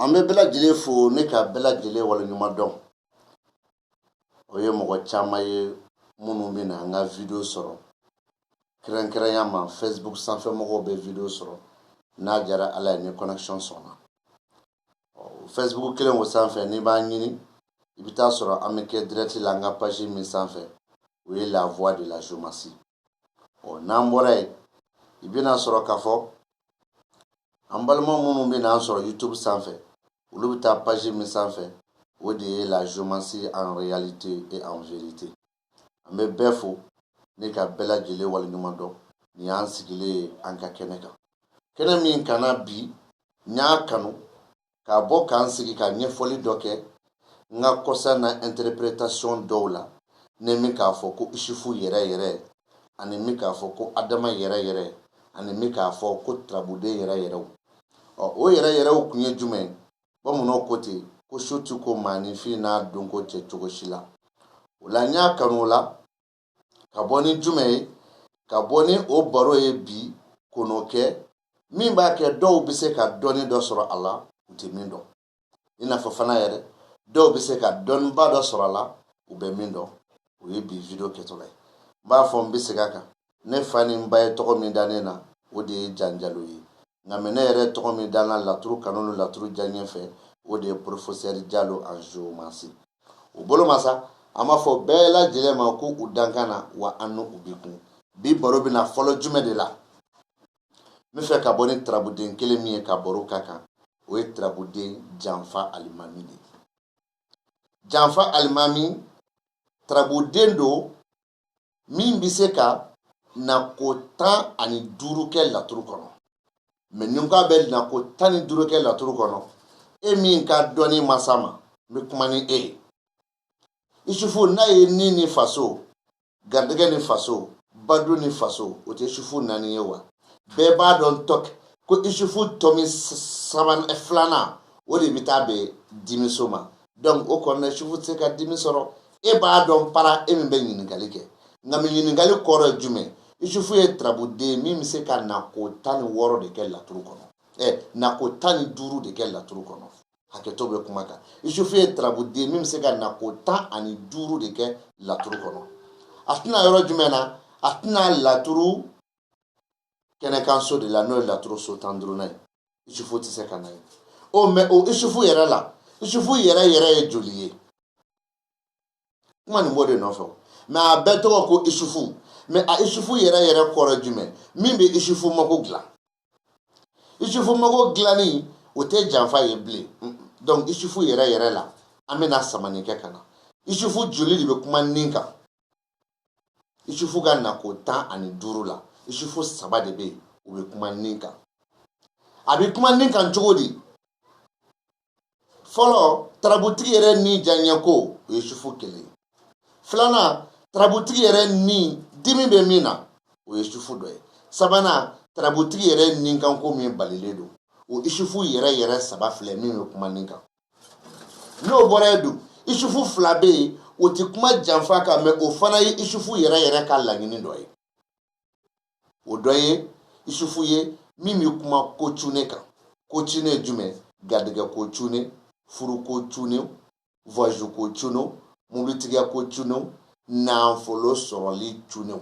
An bɛ bɛɛ lajɛlen fo ni ka bɛɛ lajɛlen waleɲuman dɔn o ye mɔgɔ caman ye minnu bɛ na an ka video sɔrɔ kɛrɛnkɛrɛnya ma Facebook sanfɛ mɔgɔw bɛ video sɔrɔ n'a diyara ala ye ni connexion sɔnna Facebook kelen o sanfɛ n'i b'a ɲini i bɛ t'a sɔrɔ an bɛ kɛ direct la an ka page min sanfɛ o ye la voix de la géomancie ɔ n'an bɔra yen i bɛn'a sɔrɔ k'a fɔ an balima minnu bɛ n'an sɔrɔ YouTube sanfɛ olu bɛ taa page min sanfɛ o de ye la géomancie en réalité et en vérité an bɛ bɛɛ fo ni ka bɛɛ lajɛlen waleɲuman dɔn nin y'an sigilen ye an ka kɛnɛ kan kɛnɛ min kana bi n y'a kanu ka bɔ k'an sigi ka ɲɛfɔli dɔ kɛ n ka concernant interprétation dɔw la ne min k'a fɔ ko isufu yɛrɛ yɛrɛ ani min k'a fɔ ko adama yɛrɛ yɛrɛ ani min k'a fɔ ko turabuden yɛrɛ yɛrɛw ɔ o yɛrɛ yɛrɛw kun ye jumɛn bamananw ko ten ko su ti ko maaninfin n'a dɔnko cɛ cogo si la o la n y'a kanu o la ka bɔ ni jumɛn ye ka bɔ ni o baro ye bi k'o kɛ min b'a kɛ dɔw bɛ se ka dɔnni dɔ sɔrɔ a la u tɛ min dɔn i n'a fɔ fana yɛrɛ dɔw bɛ se ka dɔnniba dɔ sɔrɔ a la u bɛ min dɔn o ye bi video kɛtɔla ye n b'a fɔ n bɛ segin a kan ne fa ni n ba ye tɔgɔ min da ne na o de ye Jan Jalo ye nka mais ne yɛrɛ tɔgɔ min da n na laturu kanu ni laturu diyaɲɛ fɛ o de ye professeur Jalo en géomancie o bolo ma sa an b'a fɔ bɛɛ lajɛlen ma ko u dankan na wa an n'u bi kun bi baro bɛna fɔlɔ jumɛn de la n bɛ fɛ ka bɔ ni turabuden kelen min ye ka baro k'a kan o ye turabuden janfa alimami de ye janfa alimami turabuden don min bɛ se ka nako tan ani duuru kɛ laturu kɔnɔ mais ni ko a bɛ nako tan ni duuru kɛ laturu kɔnɔ e min ka dɔnni ma s'a ma n bɛ kuma ni e ye isufu n'a ye ni ni faso garijɛgɛ ni faso badu ni faso o tɛ isufu naani ye wa bɛɛ b'a dɔn tɔ ko isufu tɔmi saban eh, filanan o de bɛ taa bɛn dimiso ma donc o kɔnɔna isufu tɛ se ka dimi sɔrɔ e b'a dɔn para e min bɛ ɲininkali kɛ nka min ɲininkali kɔrɔ ye jumɛn isufu ye turabuden min bɛ se ka nako tan ni wɔɔrɔ de kɛ laturu kɔnɔ ɛ eh, nako tan ni duuru de kɛ laturu kɔnɔ hakɛto bɛ kuma kan isufu ye tarabuden min bɛ se ka na ko tan ani duuru de kɛ laturu kɔnɔ a tɛ na yɔrɔ jumɛn na a tɛ na laturu kɛnɛkanso de la n'o ye laturu so tan duurunan ye isufu tɛ se ka na yen mɛ o isufu yɛrɛ la isufu yɛrɛ yɛrɛ ye joli ye kuma nin b'o de nɔfɛ o mɛ a bɛɛ tɔgɔ ko isufu mɛ a isufu yɛrɛ yɛrɛ kɔrɔ jumɛn min bɛ isufu mago dilan isufu mago dilanni o tɛ janfa ye bilen donc isufu yɛrɛ yɛrɛ la an bɛna samani kɛ ka na isufu joli de bɛ kuma nin kan isufu ka nako tan ani duuru la isufu saba de bɛ yen u bɛ kuma nin kan a bɛ kuma nin kan cogo di fɔlɔ tarabutigi yɛrɛ ni diyanyɛko o ye isufu kelen ye filanan tarabutigi yɛrɛ ni dimi bɛ min na o ye isufu dɔ ye sabanan tarabutigi yɛrɛ nikanko min balilen don o isufu yɛrɛ yɛrɛ saba filɛ min bɛ kuma nin kan n'o bɔra yen dun isufu fila bɛ yen o tɛ kuma janfa kan mɛ o fana ye isufu yɛrɛ yɛrɛ ka laɲini dɔ ye o dɔ ye isufu ye min bɛ kuma ko cunnen kan ko cunnen ye jumɛn garijɛgɛ ko cunnen furu ko cunnen voyage ko cunnenw mobilitigiya ko cunnenw nafolo sɔrɔli cunnenw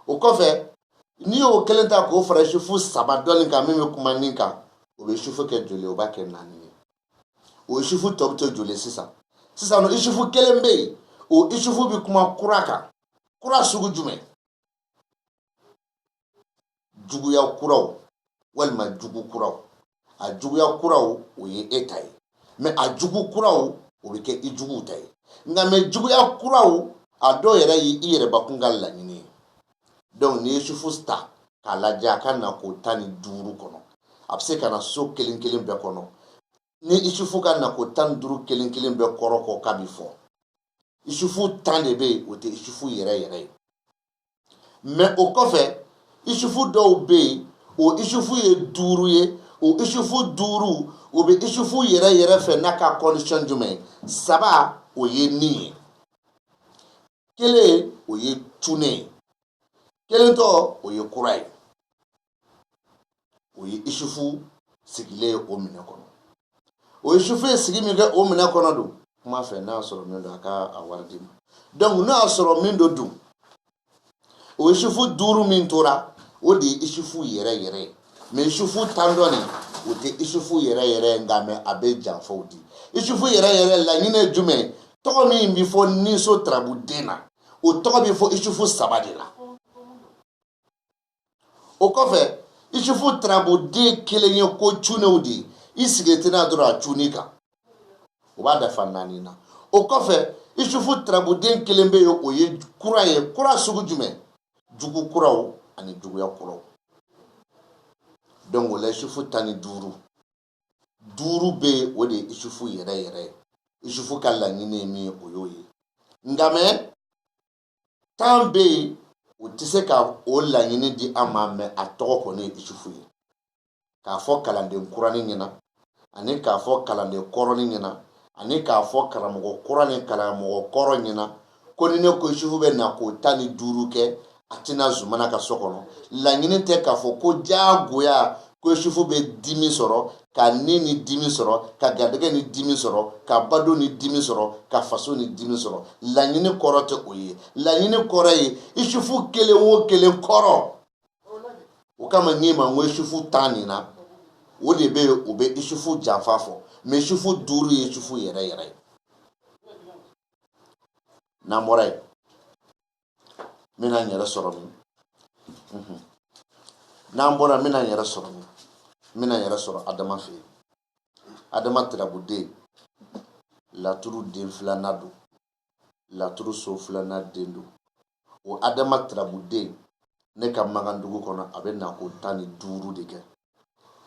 o kɔfɛ n'i y'o kelen ta k'o fara isufu saba dɔ nin kan min bɛ kuma nin kan o bɛ isufu kɛ joli o b'a kɛ naani ye o isufu tɔ bɛ to joli sisan sisan n'o isufu kelen bɛ yen o isufu bɛ kuma kura kan kura sugu jumɛn juguya kuraw walima jugu kuraw a juguya kuraw o ye e ta ye mɛ a jugu kuraw o bɛ kɛ i juguw ta ye nka mɛ juguya kuraw a dɔw yɛrɛ ye i yɛrɛbakun ka laɲini ye donc n'i ye isufu ta k'a lajɛ a ka nako tan ni duuru kɔnɔ a bɛ se ka na so kelen kelen bɛɛ kɔnɔ ni isufu ka nako tan ni duuru kelen kelen bɛɛ kɔrɔ kɔ k'a bi fɔ isufu tan de bɛ yen o tɛ isufu yɛrɛ yɛrɛ ye mɛ o kɔfɛ isufu dɔw bɛ yen o isufu ye duuru ye o isufu duuru o bɛ isufu yɛrɛ yɛrɛ fɛ n'a ka kɔndisɔn jumɛn saba o ye nin ye kelen o ye cunnen ye kelen tɔ o ye kura ye o ye isufu sigilen ye o minɛ kɔnɔ o isufu ye sigi min kɛ o minɛ kɔnɔ don kuma fɛ n'a y'a sɔrɔ min don a ka a wari d'i ma donc n'a y'a sɔrɔ min don dun o isufu duuru min tora o de ye isufu yɛrɛ yɛrɛ ye mɛ isufu tan dɔ nin o tɛ isufu yɛrɛ yɛrɛ ye nka mɛ a bɛ janfaw di isufu yɛrɛ yɛrɛ laɲini ye jumɛn ye tɔgɔ min bɛ fɔ ninso tarabuden na o tɔgɔ bɛ fɔ isufu saba de la o kɔfɛ isufu tarabuden kelen ye ko cunnenw de ye i sigi tɛna dɔrɔn a cun i kan o b'a dafa naani na o kɔfɛ isufu tarabuden kelen bɛ yen o ye kura ye kura sugu jumɛn jugu kuraw ani juguya kuraw donc o la isufu tan ni duuru duuru bɛ yen o de ye isufu yɛrɛ yɛrɛ ye isufu ka laɲini ye min ye o y'o ye nka mɛ tan bɛ yen u tɛ se ka o laɲini di an ma mɛ a tɔgɔ kɔni ye isufu ye k'a fɔ kalanden kuranin ɲɛna ani k'a fɔ kalanden kɔrɔnin ɲɛna ani k'a fɔ karamɔgɔ kura ni karamɔgɔ kɔrɔ ɲɛna ko ni ne ko isufu bɛ na ko tan ni duuru kɛ a tɛna zumana ka so kɔnɔ laɲini tɛ k'a fɔ ko diyagoya ko isufu bɛ dimi sɔrɔ ka ni ni dimi sɔrɔ ka garijɛgɛ ni dimi sɔrɔ ka baden ni dimi sɔrɔ ka faso ni dimi sɔrɔ laɲini kɔrɔ tɛ o ye laɲini kɔrɔ ye isufu kelen o kelen kɔrɔ o kama n'i ma n ko isufu tan nin na o de bɛ yen o bɛ isufu janfa fɔ mɛ isufu duuru ye isufu yɛrɛ yɛrɛ ye n'an bɔra yen n bɛna n yɛrɛ sɔrɔ min mhm. n'an bɔra n bɛna n yɛrɛ sɔrɔ min n bɛna n yɛrɛ sɔrɔ adama fɛ yen adama tirabuden laturu den filanan don laturu so filanan den don o adama tirabuden ne ka magan dugu kɔnɔ a bɛ na ko tan ni duuru de kɛ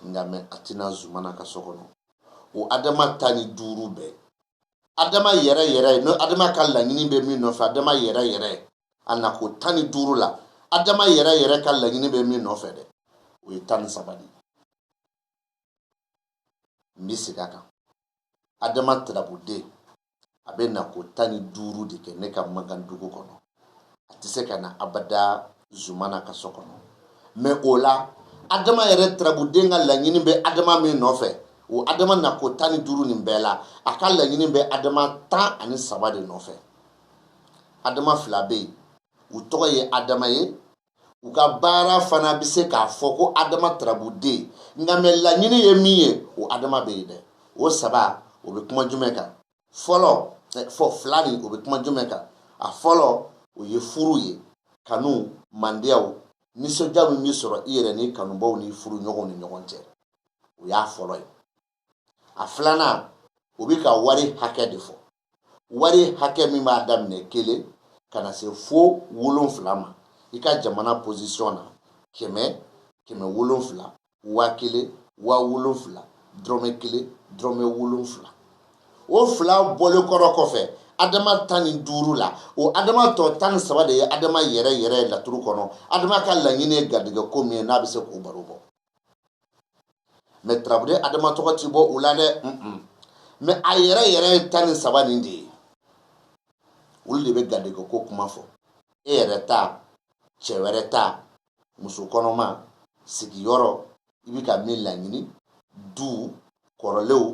nka mɛ a tɛna zumana ka so kɔnɔ o adama tan ni duuru bɛɛ adama yɛrɛ yɛrɛ ye n'o adama ka laɲini bɛ min nɔfɛ adama yɛrɛ yɛrɛ a na ko tan ni duuru la adama yɛrɛ yɛrɛ ka laɲini bɛ min nɔfɛ dɛ o ye tan ni saba de ye n bɛ segin a kan adama tirabuden a bɛ na ko tan ni duuru de kɛ ne ka magan dugu kɔnɔ a tɛ se ka na abada zumana ka so kɔnɔ mɛ o la adama yɛrɛ tirabuden ka laɲini bɛ adama min nɔfɛ o adama na ko tan ni duuru nin bɛɛ la a ka laɲini bɛ adama tan ani saba de nɔfɛ adama fila bɛ yen u tɔgɔ ye adama ye u ka baara fana bɛ se k'a fɔ ko adama tarabuden nka mɛ laɲini ye min ye o adama bɛ yen dɛ o saba o bɛ kuma jumɛn kan fɔlɔ fɔ fila nin o bɛ kuma jumɛn kan a fɔlɔ o ye furu ye kanu mandiyaw nisɔndiya min bɛ sɔrɔ i yɛrɛ n'i kanubaw n'i furuɲɔgɔnw ni ɲɔgɔn cɛ o y'a fɔlɔ ye a filanan o bɛ ka wari hakɛ de fɔ wari hakɛ min b'a daminɛ kelen ka na se fo wolonfila ma i ka jamana position na kɛmɛ kɛmɛ wolonfila waa kelen waa wolonfila dɔrɔmɛ kelen dɔrɔmɛ wolonfila o fila bɔlen kɔrɔ kɔfɛ adama tan ni duuru la o adama tɔ tan ni saba de ye adama yɛrɛ yɛrɛ laturu kɔnɔ adama ka laɲini ye garijɛgɛ ko min ye n'a bɛ se k'o baro bɔ mais tarabuden adama tɔgɔ tɛ bɔ u la dɛ mais a yɛrɛ yɛrɛ ye tan ni saba nin de ye olu de bɛ garijɛgɛ ko kuma fɔ e yɛrɛ ta cɛ wɛrɛ ta muso kɔnɔma sigiyɔrɔ i bɛ ka min laɲini du kɔrɔlenw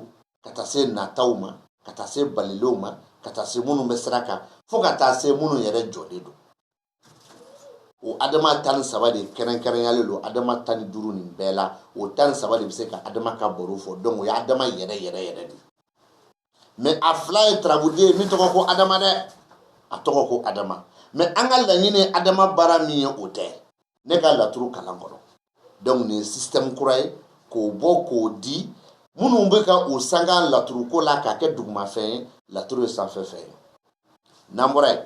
ka taa se nataw ma ka taa se balilenw ma ka taa se minnu bɛ sira kan fo ka taa se minnu yɛrɛ jɔlen don o adama tan ni saba de kɛrɛnkɛrɛnyalen don adama tan ni duuru nin bɛɛ la o tan ni saba de bɛ se ka adama ka baro fɔ donc o ye adama yɛrɛ yɛrɛ yɛrɛ de mais a fila ye tarabuden min tɔgɔ ko adama dɛ a tɔgɔ ko adama mais an ka laɲini adama baara min ye o tɛ ne ka laturu kalan kɔnɔ donc nin ye système kura ye k'o bɔ k'o di minnu bɛ ka o sanga laturuko la k'a kɛ dugumafɛn ye laturu ye sanfɛfɛn ye n'an bɔra yen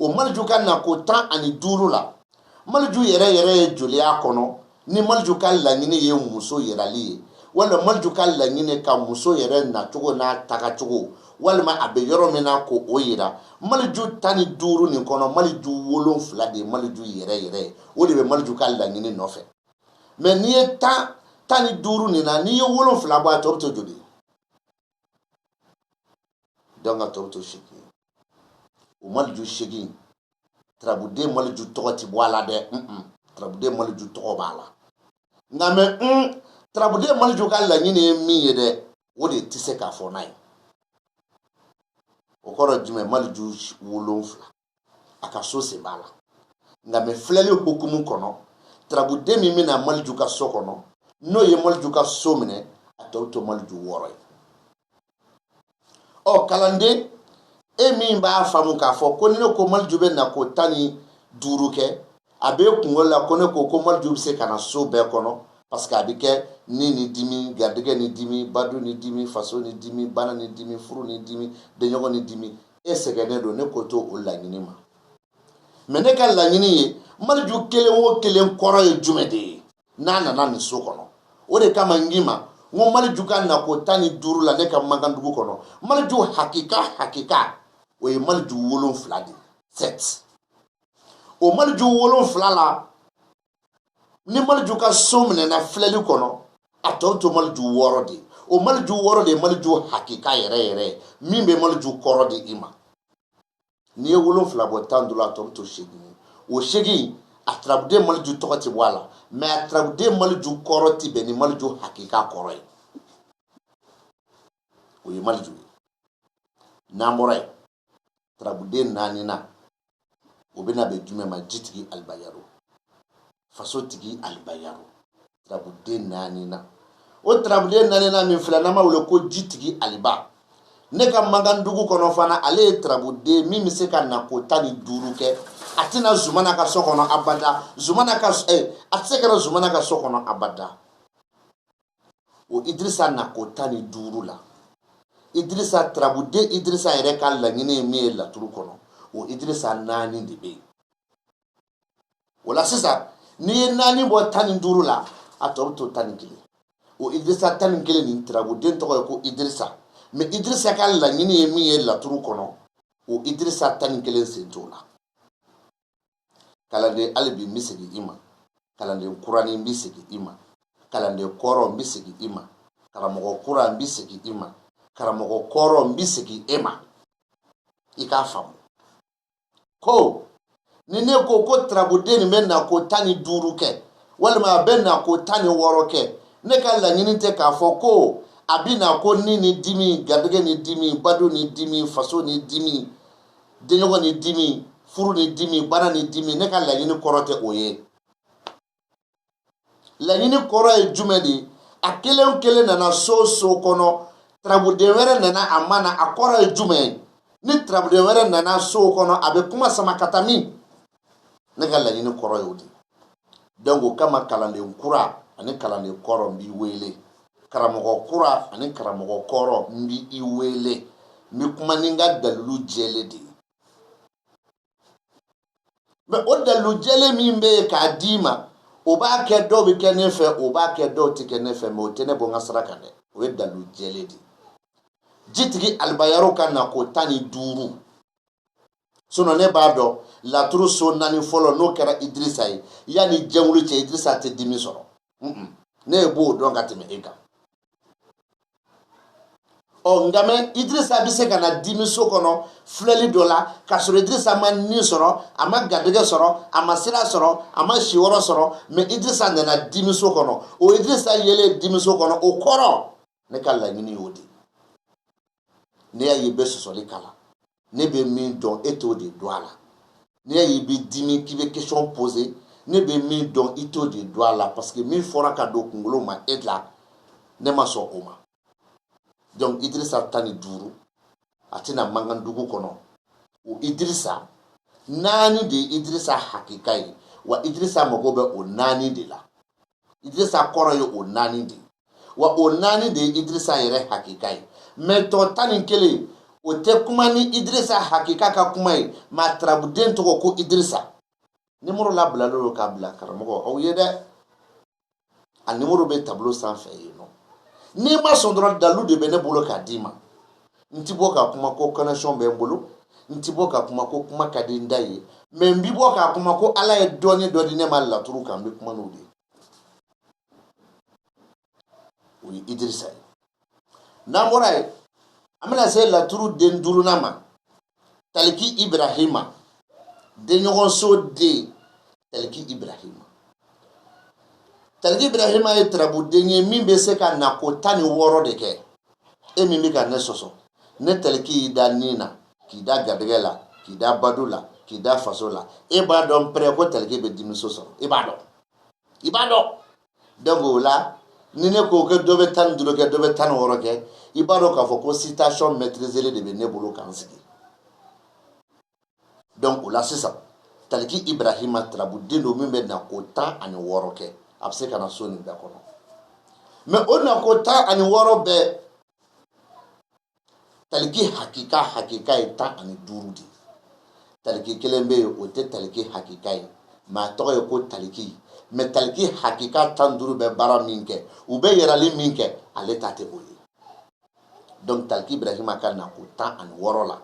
o maliju ka nako tan ani duuru la maliju yɛrɛ yɛrɛ ye joli y'a kɔnɔ ni maliju ka laɲini ye muso yirali ye walima maliju ka laɲini ka muso yɛrɛ nacogo n'a tagacogo walima a bɛ yɔrɔ min na ko o yira maliju tan ni duuru nin kɔnɔ maliju wolonfila de ye maliju yɛrɛ yɛrɛ ye o de bɛ maliju ka laɲini nɔfɛ mais n'i ye tan tan ni duuru nin na n'i ye wolonfila bɔ a tɔ bɛ to joli donc a tɔ bɛ to segin o maliju segin tarabuden maliju tɔgɔ ti bɔ a la dɛ tarabuden maliju tɔgɔ b'a la nka mais tarabuden maliju ka laɲini ye min ye dɛ o de tɛ se k'a fɔ n'a ye o kɔrɔ jumɛn maliju wolonfila a ka so sen b'a la nka mais filɛli hukumu kɔnɔ tarabuden min bɛna maliju ka so kɔnɔ n'o ye maliju ka so minɛ a tɔ bɛ to maliju wɔɔrɔ ye ɔ kalanden e min b'a faamu k'a fɔ ko ni ne ko maliju bɛ nako tan ni duuru kɛ a bɛ kunkolo la ko ne ko ko maliju bɛ se ka na so bɛɛ kɔnɔ parce que a bɛ kɛ ni ni dimi garijɛgɛ ni dimi badu ni dimi faso ni dimi bana ni dimi furu ni dimi denɲɔgɔn ni dimi e sɛgɛnnen don ne ko to o laɲini ma mais ne ka laɲini ye maliju kelen o kelen kɔrɔ ye jumɛn de ye n'a nana nin so kɔnɔ o de kama n k'i ma n ko maliju ka nako tan ni duuru la ne ka mankandugu kɔnɔ maliju hakika hakika o ye maliju wolonfila de ye sept o maliju wolonfila la ni maliju ka so minɛna filɛli kɔnɔ a tɔ to maliju wɔɔrɔ de ye o maliju wɔɔrɔ de ye maliju hakika yɛrɛ yɛrɛ ye min bɛ maliju kɔrɔ di i ma n'i ye wolonfila bɔ tan ni duuru la a tɔ bɛ to seegin ye o seegin a turabuden maliju tɔgɔ tɛ bɔ a la mɛ a turabuden maliju kɔrɔ tɛ bɛn ni maliju hakika kɔrɔ ye o ye maliju ye n'an bɔra yen tarabuden naanina o bɛna bɛn jumɛn ma jitigi alibayaro fasotigi alibayaro tarabuden naanina o tarabuden naanina min filɛ n'an b'a wele ko jitigi aliba ne ka mankan dugu kɔnɔ fana ale ye tarabuden min bɛ se ka nako tan ni duuru kɛ a tɛ na zumana ka so kɔnɔ abada zumana ka eh, a tɛ se ka na zumana ka so kɔnɔ abada o idirisa nako tan ni duuru la idirisa tarabuden idirisa yɛrɛ ka laɲini ye min ye laturu kɔnɔ o idirisa naani de bɛ yen o la sisan n'i ye naani bɔ tan ni duuru la a tɔ bɛ to tan ni kelen o idirisa tan ni kelen nin tarabuden tɔgɔ ye ko idirisa mɛ idirisa ka laɲini ye min ye laturu kɔnɔ o idirisa tan ni kelen sen t'o la kalanden hali bi n bɛ segin i ma kalanden kuranin n bɛ segin i ma kalanden kɔrɔ n bɛ segin i ma karamɔgɔ kura n bɛ segin i ma karamɔgɔ kɔrɔ n bɛ segin e ma i k'a faamu ko ni ne ko ko tarabuden nin bɛ nako tan ni duuru kɛ walima a bɛ nako tan ni wɔɔrɔ kɛ ne ka laɲini tɛ k'a fɔ ko a bɛ na ko ni ni dimi garijɛgɛ ni dimi bado ni dimi faso ni dimi denɲɔgɔn ni dimi furu ni dimi bana ni dimi ne ka laɲini kɔrɔ tɛ o ye laɲini kɔrɔ ye jumɛn de ye a kelen kelen nana so so kɔnɔ tarabuden wɛrɛ nana a ma na a kɔrɔ ye jumɛn ye ni tarabuden wɛrɛ nana so kɔnɔ a bɛ kuma sama ka taa min ne ka laɲini kɔrɔ y'o de donc o kama kalanden kura ani kalanden kɔrɔ n b'i wele karamɔgɔ kura ani karamɔgɔ kɔrɔ n b'i wele n bɛ kuma ni n ka dalilu jɛlen de ye mɛ o dalilu jɛlen min bɛ yen k'a d'i ma o b'a kɛ dɔw bɛ kɛ ne fɛ o b'a kɛ dɔw tɛ kɛ ne fɛ mɛ o tɛ ne bɔ n ka sira kan dɛ o ye dalilu jɛlen de ye jitigi alibayaro ka nako tan ni duuru sinon ne b'a dɔn laturu so naani fɔlɔ n'o kɛra idirisa ye yanni jɛwulu cɛ idirisa tɛ dimi sɔrɔ ne yɛrɛ b'o dɔn ka tɛmɛ e kan ɔ nka mɛ idirisa bɛ se ka na dimi so kɔnɔ filɛli dɔ la k'a sɔrɔ idirisa ma ni sɔrɔ a ma garijɛgɛ sɔrɔ a ma sira sɔrɔ a ma siyɔrɔ sɔrɔ mɛ idirisa nana dimi so kɔnɔ o idirisa yelen dimi so kɔnɔ o kɔrɔ ne ka laɲini y'o de n'i y'a y'i bɛ sɔsɔli k'a la ne bɛ min dɔn e t'o de dɔn a la n'i y'a y'i bɛ dimi k'i bɛ question poser ne bɛ min dɔn i t'o de dɔn a la parce que min fɔra ka don kunkolo ma e la ne ma sɔn o ma donc Idrissa tan ni duuru a tɛ na mankan dugu kɔnɔ o Idrissa naani de ye Idrissa hakika ye wa Idrissa mago bɛ o naani de la idirisa kɔrɔ ye o naani de ye wa o naani de ye idirisa yɛrɛ hakika ye mɛ tɔ tan ni kelen o tɛ kuma ni idirisa hakika ka kuma ye mɛ a tarabuden tɔgɔ ko idirisa nimoro labilalen don k'a bila karamɔgɔ aw ye dɛ a nimoro bɛ tabolo sanfɛ yen nɔ n'i ma sɔn dɔrɔn dalu de bɛ ne bolo k'a d'i ma n ti bɔ ka kuma ko connexion bɛ n bolo n ti bɔ ka kuma ko kuma ka di n da ye mɛ n bi bɔ ka kuma ko ala ye dɔɔni dɔ di ne ma laturu kan n bi kuma n'o de ye o ye idirisa ye n'an bɔra yen an bɛna se laturu den duurunan ma taliki ibrahima denɲɔgɔnso den taliki ibrahima taliki ibrahima ye tarabuden ye min bɛ se ka nako tan ni wɔɔrɔ de kɛ e min bɛ ka ne sɔsɔ ni taliki y'i da ni na k'i da garijɛgɛ la k'i da badu la k'i da faso la e b'a dɔn pɛrɛ ko taliki bɛ dimiso sɔrɔ i b'a dɔn i b'a dɔn donc o la ni ne ko kɛ dɔ bɛ tan ni duuru kɛ dɔ bɛ tan ni wɔɔrɔ kɛ i b'a dɔn k'a fɔ ko citation maîtrisée de bɛ ne bolo ka n sigi donc o la sisan taliki ibrahima tarabuden don min bɛ na ko tan ani wɔɔrɔ kɛ a bɛ se ka na so nin bɛɛ kɔnɔ mɛ o na ko tan ani wɔɔrɔ bɛɛ taliki hakika hakika ye tan ani duuru de ye taliki kelen bɛ yen o tɛ taliki hakika ye mɛ a tɔgɔ ye ko taliki mɛ taliki hakika tan duuru bɛ baara min kɛ u bɛ yirali min kɛ ale ta tɛ o ye donc taliki ibrahima ka na ko tan ani wɔɔrɔ la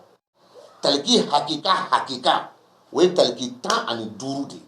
taliki hakika hakika o ye taliki tan ani duuru de ye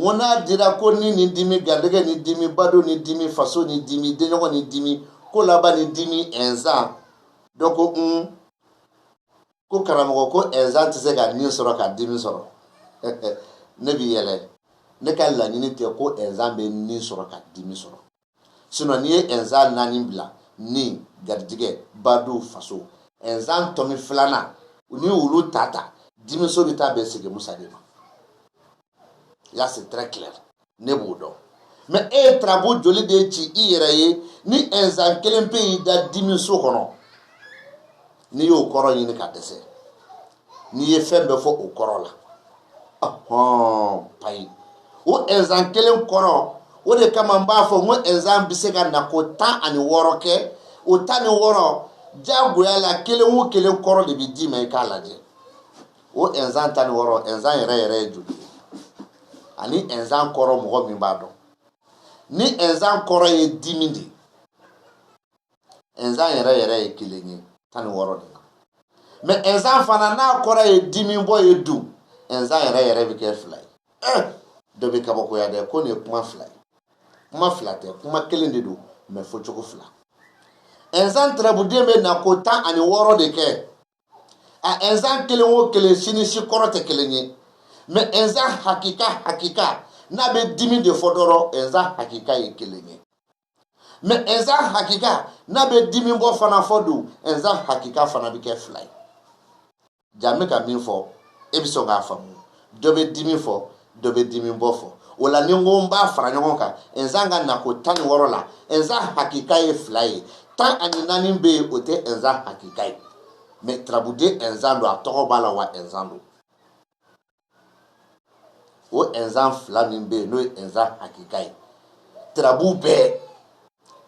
ŋo n'a dira ko ni ni dimi garijɛgɛ ni dimi bado ni dimi faso ni dimi denɲɔgɔn ni dimi kolaban ni dimi inzan donc n ko karamɔgɔ ko inzan tɛ se ka ni sɔrɔ ka dimi sɔrɔ ne bi yɛlɛ ne ka laɲini tɛ ko inzan bɛ ni sɔrɔ ka dimi sɔrɔ sinɔn n'i ye inzan naani bila ni garijigɛ badu faso inzan tɔmi filanan ni olu ta ta dimiso bɛ taa bɛn sege musa de ma là c'est très clair ne b'o dɔn mɛ e ye tarabu joli de ci i yɛrɛ ye ni inzan kelen pe y'i da dimiso kɔnɔ n'i y'o kɔrɔ ɲini ka dɛsɛ n'i ye fɛn bɛɛ fɔ o kɔrɔ la payi o ɛnzan kelen kɔrɔ o de kama n b'a fɔ ko ɛnzan bɛ se ka na ko tan ani wɔɔrɔ kɛ o tan ni wɔɔrɔ jagoya la kelen o kelen kɔrɔ de bɛ d'i ma i k'a lajɛ o ɛnzan tan ni wɔɔrɔ ɛnzan yɛrɛ yɛrɛ ye joli ye ani ɛnzan kɔrɔ mɔgɔ min b'a dɔn ni ɛnzan kɔrɔ ye dimi de ye ɛnzan yɛrɛ yɛrɛ ye kelen ye tan ni wɔɔrɔ de la mɛ ɛnzan fana n'a kɔrɔ ye dimi bɔ ye dun ɛnzan yɛrɛ yɛrɛ bɛ kɛ fila ye ɛɛ eh, dɔ bɛ kabakoya dɛ ko nin ye kuma fila ye kuma fila tɛ kuma kelen de don mɛ fɔcogo fila ɛnzan tarabuden bɛ na ko tan ani wɔɔrɔ de kɛ a ɛnzan kelen o kelen si ni si kɔrɔ tɛ kelen ye mɛ ɛnzan hakika hakika n'a bɛ dimi de fɔ dɔrɔn ɛnzan hakika ye kelen ye mɛ ɛnzan hakika n'a bɛ dimi bɔ fana fɔ dun ɛnzan hakika fana bɛ kɛ fila ye ja n bɛ ka min fɔ e bɛ sɔn k'a faamu dɔ bɛ dimi fɔ dɔ bɛ dimi bɔ fɔ wala ni n ko n b'a fara ɲɔgɔn kan ɛnzan ka nako tan ni wɔɔrɔ la ɛnzan hakika ye fila ye tan ani naani bɛ yen o tɛ ɛnzan hakika ye mɛ tarabuden ɛnzan don a tɔgɔ b'a la wa ɛnzan don o ɛnzan fila min bɛ yen n'o ye ɛnzan hakika ye tarabu bɛɛ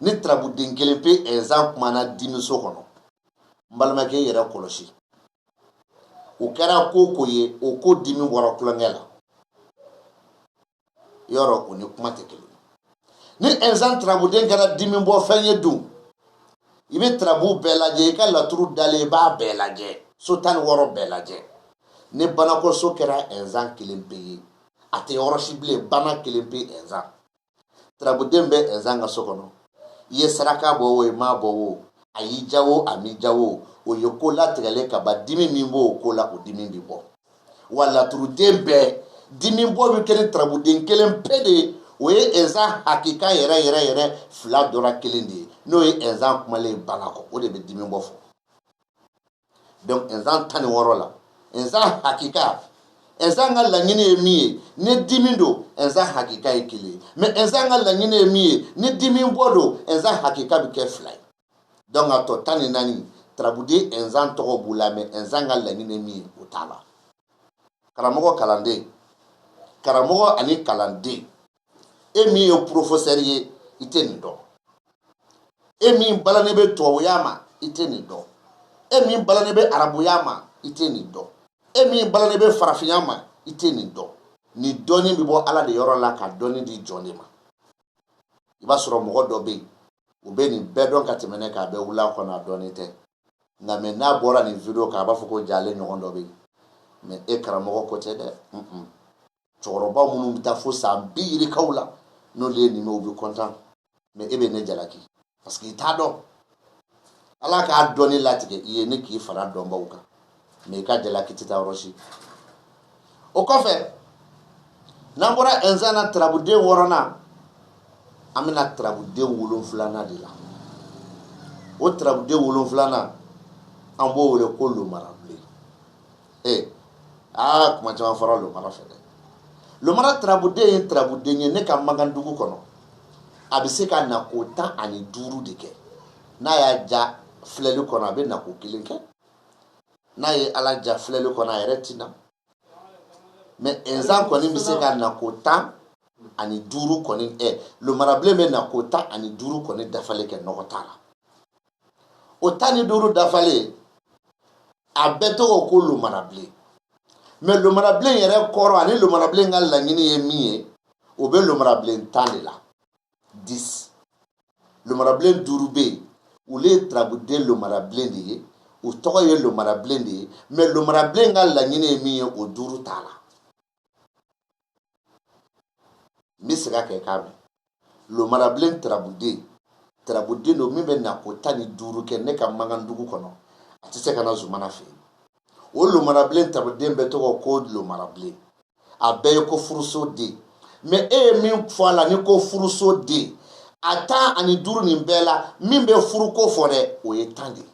ni tarabuden kelen pe ɛnzan kumana dimiso kɔnɔ n balimakɛ i yɛrɛ kɔlɔsi o kɛra ko o ko ye o ko dimi bɔra tulonkɛ la yɔrɔ o ni kuma tɛ kelen ni ɛnzan tarabuden kɛra dimi bɔ fɛn ye dun i bɛ tarabu bɛɛ lajɛ i ka laturu dalen i b'a bɛɛ lajɛ so tan ni wɔɔrɔ bɛɛ lajɛ ni banakɔso kɛra ɛnzan kelen pe ye a tɛ yɔrɔ si bilen bana kelen pe ɛnzan tarabuden bɛ ɛnzan ka so kɔnɔ i ye saraka bɔ o i m'a bɔ o a y'i ja o a m'i ja o o ye ko latigɛlen ka ban dimi min b'o ko la o dimi bɛ bɔ wa laturuden bɛɛ dimi bɔ bɛ kɛ ni tarabuden kelen pe de ye o ye ɛnzan hakika yɛrɛ yɛrɛ yɛrɛ fila dɔ ra kelen de ye n'o ye ɛnzan kumalen banakɔ o de bɛ dimi bɔ fɔ donc ɛnzan tan ni wɔɔrɔ la ɛnzan hakika ɛnzan ka laɲini ye min ye ni dimi don ɛnzan hakika ye kelen ye mais ɛnzan ka laɲini ye min ye ni dimi bɔ don ɛnzan hakika bɛ kɛ fila ye donc a tɔ tan ni naani tarabuden ɛnzan tɔgɔ b'u la mɛ ɛnzan ka laɲini ye min ye o t'a la karamɔgɔ kalanden karamɔgɔ ani kalanden e min ye porofosɛri ye i tɛ nin dɔn e min balannen bɛ tubabuya ma i tɛ nin dɔn e min balannen bɛ arabuya ma i tɛ nin dɔn e min balannen bɛ farafinya ma i tɛ nin dɔn nin dɔnni bɛ bɔ ala de yɔrɔ la ka dɔnni di jɔn de ma i b'a sɔrɔ mɔgɔ dɔ bɛ yen u bɛ nin bɛɛ dɔn ka tɛmɛ ne kan a bɛ wuli a kɔnɔ a dɔnnen tɛ nka mɛ n'a bɔra nin video kan a b'a fɔ ko jalen ɲɔgɔn dɔ bɛ yen mɛ e karamɔgɔ ko tɛ dɛ cɛkɔrɔba minnu bɛ taa fo san bi yirikaw la n'olu ye nin mɛn u bɛ kɔntan mɛ e bɛ ne jalaki parce que i t'a dɔn ala k'a dɔnni latigɛ i ye ni k'i fara dɔnbaw kan mɛ i ka jalaki tɛ taa yɔrɔ si o kɔfɛ n'an bɔra ɛnzan na tarabuden wɔɔrɔnan an bɛna tarabuden wolonfilanan de la o tarabuden wolonfilanan an b'o wele ko lomarabilen ee aa kuma caman fɔra lomara fɛ dɛ lomara tarabuden ye tarabuden ye ne ka magan dugu kɔnɔ a bɛ se ka nako tan ani duuru de kɛ n'a y'a ja filɛli kɔnɔ a bɛ nako kelen kɛ n'a ye ala ja filɛli kɔnɔ a yɛrɛ tɛ na mɛ ɛnzan kɔni bɛ se ka nako tan ani duuru kɔni ɛ lomarabilen bɛ nako tan ani duuru kɔni dafalen kɛ nɔgɔ t'a la o tan ni duuru dafalen a bɛɛ tɔgɔ ko lomarabilen mɛ lomarabilen yɛrɛ kɔrɔ ani lomarabilen ka laɲini ye min ye o bɛ lomarabilen tan de la disi lomarabilen duuru bɛ yen olu ye tarabuden lomarabilen de ye u tɔgɔ ye lomarabilen de ye mɛ lomarabilen ka laɲini ye min ye o duuru t'a la n bɛ segin a kan i k'a mɛn lomarabilen tarabuden tarabuden don min bɛ nako tan ni duuru kɛ ne ka magan dugu kɔnɔ a tɛ se ka na zumana fɛ yen o lomarabilen tarabuden bɛɛ tɔgɔ ko lomarabilen a bɛɛ ye ko furuso den mɛ e ye min fɔ a la ni ko furuso den a tan ani duuru nin bɛɛ la min bɛ furuko fɔ dɛ o ye tan de ye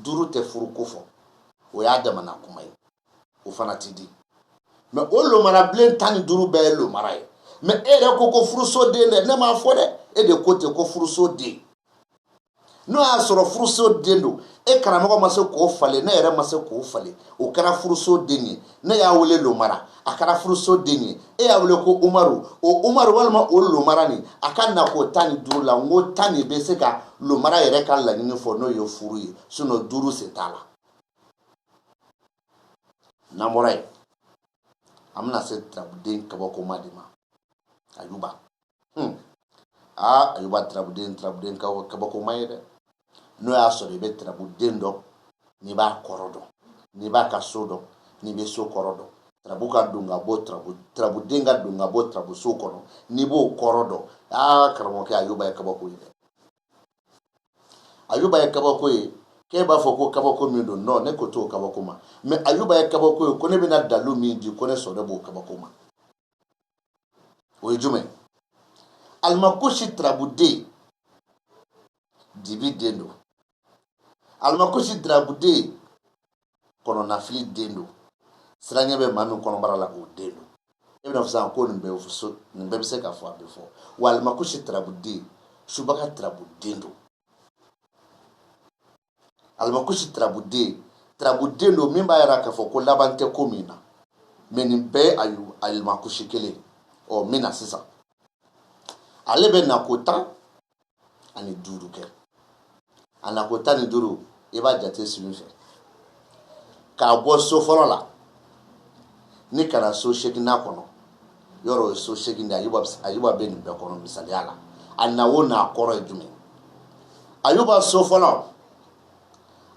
duuru tɛ furuko fɔ o y'a damana kuma ye o fana tɛ di mɛ o lomarabilen tan ni duuru bɛɛ ye lomara ye mɛ e yɛrɛ ko ko furusoden dɛ ne m'a fɔ dɛ e de ko ten ko furusoden n'o y'a sɔrɔ furusoden don e karamɔgɔ ma se k'o falen ne yɛrɛ ma se k'o falen o kɛra furusoden ye ne y'a wele lomara a kɛra furuso den ye e y'a wele ko umaru o umaru walima o lomara nin a ka nako tan ni duuru la n ko tan de bɛ se ka lomara yɛrɛ ka laɲini fɔ n'o ye furu ye sinɔn duuru se t'a la n'an bɔra yen an bɛna se tarabuden kabakoma de ma ayuba hmm. aa ayuba tirabuden tirabuden kabakoma ye dɛ n'o y'a sɔrɔ i bɛ tirabuden dɔn n'i b'a kɔrɔ dɔn n'i b'a ka so dɔn n'i bɛ so kɔrɔ dɔn tirabu ka don ka bɔ tirabu tirabuden ka don ka bɔ tirabuso kɔnɔ n'i b'o kɔrɔ dɔn aa karamɔgɔkɛ ayuba ye kabako ye dɛ ayuba ye kabako ye k'e b'a fɔ ko kabako min don nɔ ne ko t'o kabako ma mɛ ayuba ye kabako ye ko ne bɛna dalu min di ko ne sɔrɔ b'o kabako ma o ye jumɛn alimakusi turabuden dibi den don alimakusi turabuden kɔnɔnafili den don siranɲɛ bɛ maa min kɔnɔbara la o den don e bɛna fɔ sisan ko nin bɛɛ bɛ se ka fɔ a bɛ fɔ wa alimakusi turabuden subaga turabuden don alimakusi tarabuden tarabuden don min b'a yira k'a fɔ ko laban tɛ ko min na mɛ nin bɛɛ ye alimakusi kelen ɔ min na sisan ale bɛ nako tan ani duuru kɛ a nako tan ni duuru i b'a jate sini fɛ k'a bɔ so fɔlɔ la ni ka na so seginnan kɔnɔ yɔrɔ ye so segin de ayuba bɛ nin bɛɛ kɔnɔ misaliya la a na o n'a kɔrɔ ye jumɛn ayuba so fɔlɔ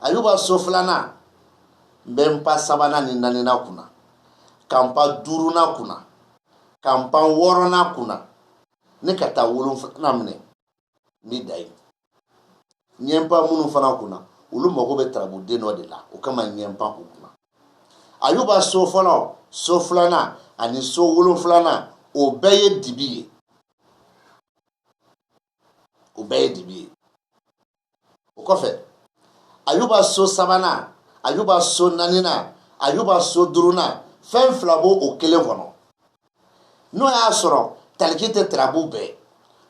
ayuba so filanan n bɛ n pan sabanan ni naaninan kunna ka n pan duurunan kunna ka n pan wɔɔrɔnan kunna ni ka taa wolonfilanan minɛ ni dan yen n ye n pan minnu fana kunna olu mago bɛ tarabuden dɔ de la o kama n ye n pan u kunna ayuba so fɔlɔ so filanan ani so wolonfilanan o bɛɛ ye dibi ye o bɛɛ ye dibi ye o kɔfɛ ayuba so sabanan ayuba so naaninan ayuba so duurunan fɛn fila b'o o kelen kɔnɔ n'o y'a sɔrɔ taliki tɛ tarabu bɛɛ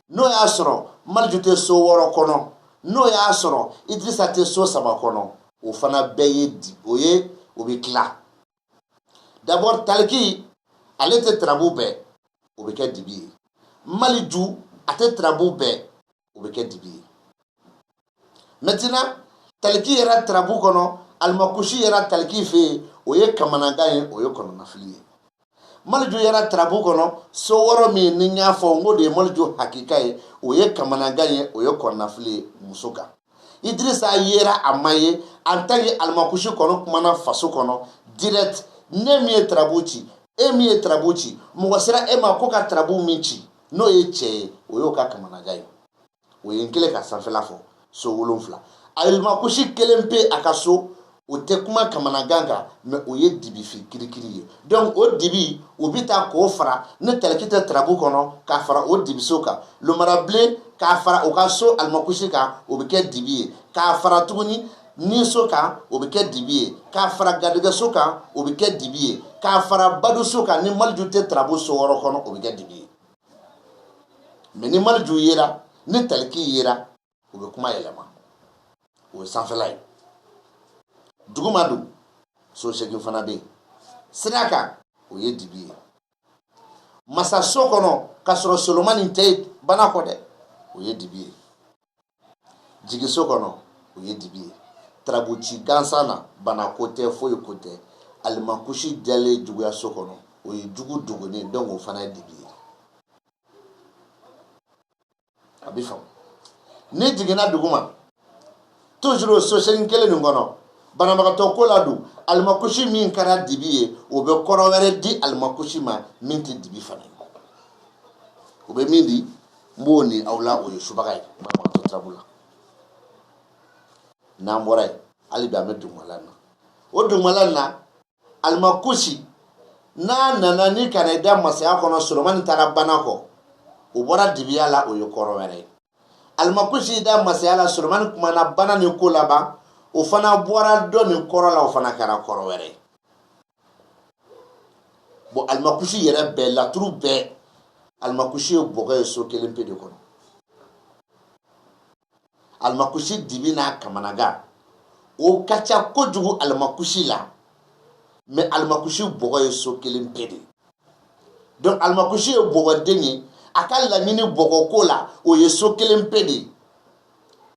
n'o y'a sɔrɔ maliju tɛ so wɔɔrɔ kɔnɔ n'o y'a sɔrɔ idirisa tɛ so saba kɔnɔ o fana bɛɛ ye o ye o bɛ tila dabɔ taliki ale tɛ tarabu bɛɛ o bɛ kɛ dibi ye maliju a tɛ tarabu bɛɛ o bɛ kɛ dibi ye mɛtina taliki yera tarabu kɔnɔ alimakusi yera taliki fɛ yen o ye kamanagan ye o ye kɔnɔnafili ye maliju yera tarabu kɔnɔ so wɔɔrɔ min ni n y'a fɔ n k'o de ye maliju hakika ye o ye kamanagan ye o ye kɔnɔnafili ye muso kan idirisa yera a ma ye en tant que alimakusi kɔnɔ kumana faso kɔnɔ direct ne min ye tarabu ci e min ye tarabu ci mɔgɔ sera e ma k'o ka tarabu min ci n'o ye cɛ ye o y'o ka kamanagan ye o ye n kelen ka sanfɛla fɔ so wolonfila alimakusi kelen pe a ka so o tɛ kuma kamanagan kan mɛ o ye dibifin kirikiri ye dɔnku o dibi o bɛ taa k'o fara ni taliki tɛ tarabu kɔnɔ k'a fara o dibiso kan lomarabilen k'a fara o ka so alimakusi kan o bɛ kɛ dibi ye k'a fara tuguni niso kan o bɛ kɛ dibi ye k'a fara garijɛgɛso kan o bɛ kɛ dibi ye k'a fara baduso kan ni maliju tɛ tarabu so wɔɔrɔ kɔnɔ o bɛ kɛ dibi ye mɛ ni maliju yera ni taliki yera u bɛ kuma yɛlɛma o ye sanfɛla ye duguma don so segin fana bɛ yen sira kan o ye dibi ye masaso kɔnɔ k'a sɔrɔ solomani tɛ bana kɔ dɛ o ye dibi ye jigiso kɔnɔ o ye dibi ye tarabuci gansan na bana ko tɛ foyi ko tɛ alimakusi dalen juguyaso kɔnɔ o ye jugu dogonnen donc o fana ye dibi ye a bɛ faamu n'i jiginna duguma toujours o so segin kelen nin kɔnɔ banabagatɔ ko la don alimakusi min kɛra dibi ye o bɛ kɔrɔ wɛrɛ di alimakusi ma min tɛ dibi fana ye o bɛ min di n b'o ni aw la o ye subaga ye banabagatɔ tarabu la n'an bɔra yen hali bi an bɛ dugumala na o dugumala na alimakusi n'a nana ni ka na i da masaya kɔnɔ solomani taara bana kɔ o bɔra dibiya la o ye kɔrɔ wɛrɛ ye alimakusi y'i da masaya la solomani kumana bana ni ko laban o fana bɔra dɔ nin kɔrɔ la o fana kɛra kɔrɔ wɛrɛ ye bon alimakusi yɛrɛ bɛɛ laturu bɛɛ alimakusi ye bɔgɔ ye so kelen pe de kɔnɔ alimakusi dibi n'a kamanagan o ka ca kojugu alimakusi la mais alimakusi bɔgɔ ye so kelen pe de donc alimakusi ye bɔgɔden ye a ka laɲini bɔgɔko la o ye so kelen pe de